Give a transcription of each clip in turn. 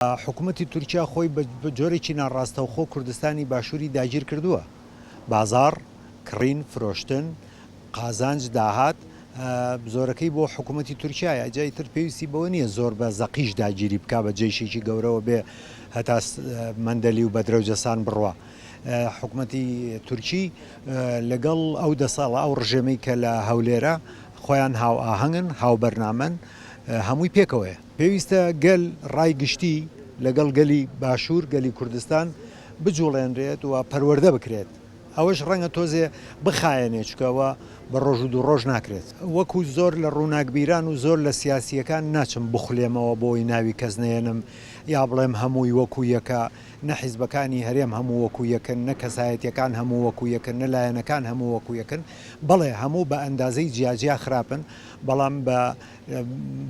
حکومەتی تورکیا خۆی بە جۆرێکی ناڕاستەوخۆ کوردستانی باشووری داگیر کردووە. بازاڕ، کڕین، فرۆشتن، قازانج، داهات زۆرەکەی بۆ حکومەتی تورکیایە. جا ئیتر پێویستی بەوە نییە زۆر بە زەقیش داگیری بکا بە جەیشێکی گەورەوە بێ هەتا مەندەلی و بەدرەوجەسان بڕوا. حکومەتی تورکی لەگەڵ ئەو دەسەاڵە ئەو ڕژێمەی کە لە هەولێرە خۆیان هاوئاهەنگن، هاوبەرنامەن، هەمووی پێکەوەیە. پێویستە گەل ڕای گشتی لەگەڵ گەلی باشوور، گەلی کوردستان بجوڵێنرێت و پەروەردە بکرێت. ئەوەش ڕەنگە تۆزێ بخایەنێت، چونکە ئەوە بە ڕۆژ و دوو ڕۆژ ناکرێت. وەکو زۆر لە ڕووناکبیران و زۆر لە سیاسییەکان ناچم بخولێمەوە بۆی ناوی کەس نەیەنم یا بڵێم هەمووی وەکو یەکە، نە حیزبەکانی هەرێم هەموو وەکو یەکن، نە کەسایەتییەکان هەموو وەکو یەکن، نە لایەنەکان هەموو وەکو یەکن. بەڵێ هەموو بە ئەندازەی جیاجیا خراپن، بەڵام بە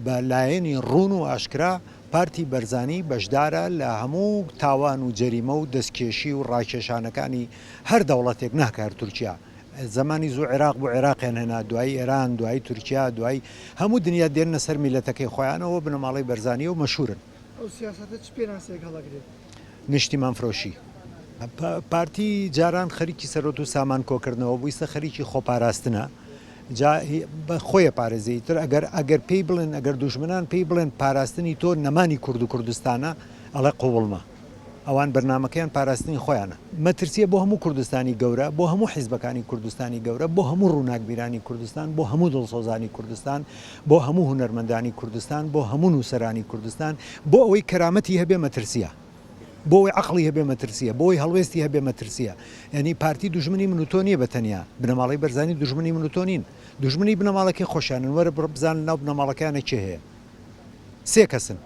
بە لایەنی ڕوون و ئاشکرا پارتی بەرزانی بەشدارە لە هەموو تاوان و جەریمە و دەستکێشی و ڕاکێشانەکانی هەر دەوڵەتێک ناکە هەر تورکیا زمانی زوو عێراق بۆ عێراقیان هێنا دوای ئێران دوای تورکیا دوای هەموو دنیا دێنە سەر میلەتەکەی خۆیانەوە بنەماڵەی بەرزانانی و مەشهورن ئەو سیاسەتە چ پێناسەیەک هەڵەگرێت؟ نیشتیمان فرۆشی پارتی جاران خەریکی سەرۆت و سامان کۆکردنەوە بوو ئیستا خەریکی خۆپاراستنە جا بە خۆیە پارێزی تر ئەگەر ئەگەر پێی بڵێن ئەگەر دوژمنان پێی بڵێن پاراستنی تۆ نەمانی کورد و کوردستانە ئەڵێ قوڵمە ئەوان بەرنمەکەیان پاراستنی خۆیانە مەترسیە بۆ هەموو کوردستانی گەورە بۆ هەموو حیزبەکانی کوردستانی گەورە بۆ هەموو ڕووناکبیرانی کوردستان بۆ هەموو دڵسۆزانی کوردستان بۆ هەموو هونەرمەندانی کوردستان بۆ هەموو نووسەرانی کوردستان بۆ ئەوەی کەرامەتی هەبێ مەترسیە بۆ ئەوەی عەقڵی هەبێ مەترسیە بۆی هەڵوێستی هەبێ مەترسیە یعنی پارتی دوژمنی من و تۆ نییە بە تەنیا بنەماڵەی بەرزانی دوژمنی من و تۆ نین دوژمنی بنەماڵەکەی خۆشانن وەرە بڕۆ بزانە ناو بنەماڵەکەیانە کێ هەیە سێ کەسن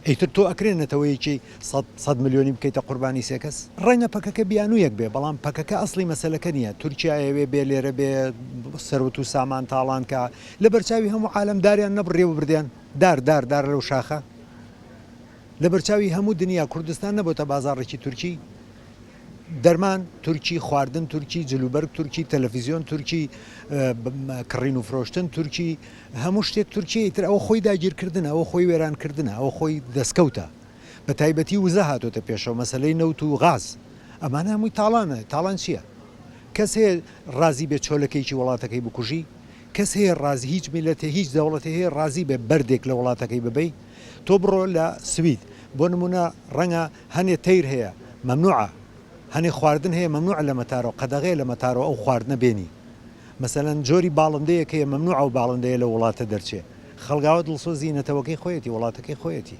ئیتر تۆ ئەکرێ نەتەوەیەکی سەد سەد ملیۆنی بکەیتە قوربانی سێ کەس؟ ڕەنگە پەکەکە بیانوویەک بێ، بەڵام پەکەکە ئەسڵی مەسەلەکە نییە. تورکیا ئەیەوێ بێ لێرە بێ سەروەت و سامان تاڵان کا. لە بەرچاوی هەموو عالەم داریان نەبڕییەوە بردیان. دار دار دار لەو شاخە. لە بەرچاوی هەموو دنیا کوردستان نەبۆتە بازاڕێکی تورکی. دەرمان تورکی، خواردن تورکی، جلوبەرگ تورکی، تەلەفیزیۆن تورکی، کڕین و فرۆشتن تورکی، هەموو شتێک تورکییە، ئیتر ئەوە خۆی داگیرکردنە، ئەوە خۆی وێرانکردنە، ئەوە خۆی دەستکەوتە، بەتایبەتی وزە هاتۆتە پێشەوە، مەسەلەی نەوت و غاز، ئەمانە هەمووی تاڵانە، تاڵان چییە؟ کەس هەیە ڕازی بێت چۆلەکێکی وڵاتەکەی بکوژی؟ کەس هەیە ڕازی، هیچ میللەتێ، هیچ دەوڵەتێ هەیە ڕازی بێت بەردێک لە وڵاتەکەی ببەی؟ تۆ بڕۆ لە سوید، بۆ نموونە ڕەنگە هەنێ تەیر هەیە مەمنوعە هەنێ خواردن هەیە مەمنوعە لە مەتارۆ قەدەغەیە لە مەتارۆ ئەو خواردنە بێنی مەسەلەن جۆری باڵندەیەک هەیە مەمنوعە ئەو باڵندەیە لە وڵاتە دەرچێ خەڵگاوە دڵسۆزی نەتەوەکەی خۆیەتی وڵاتەکەی خۆیەتی.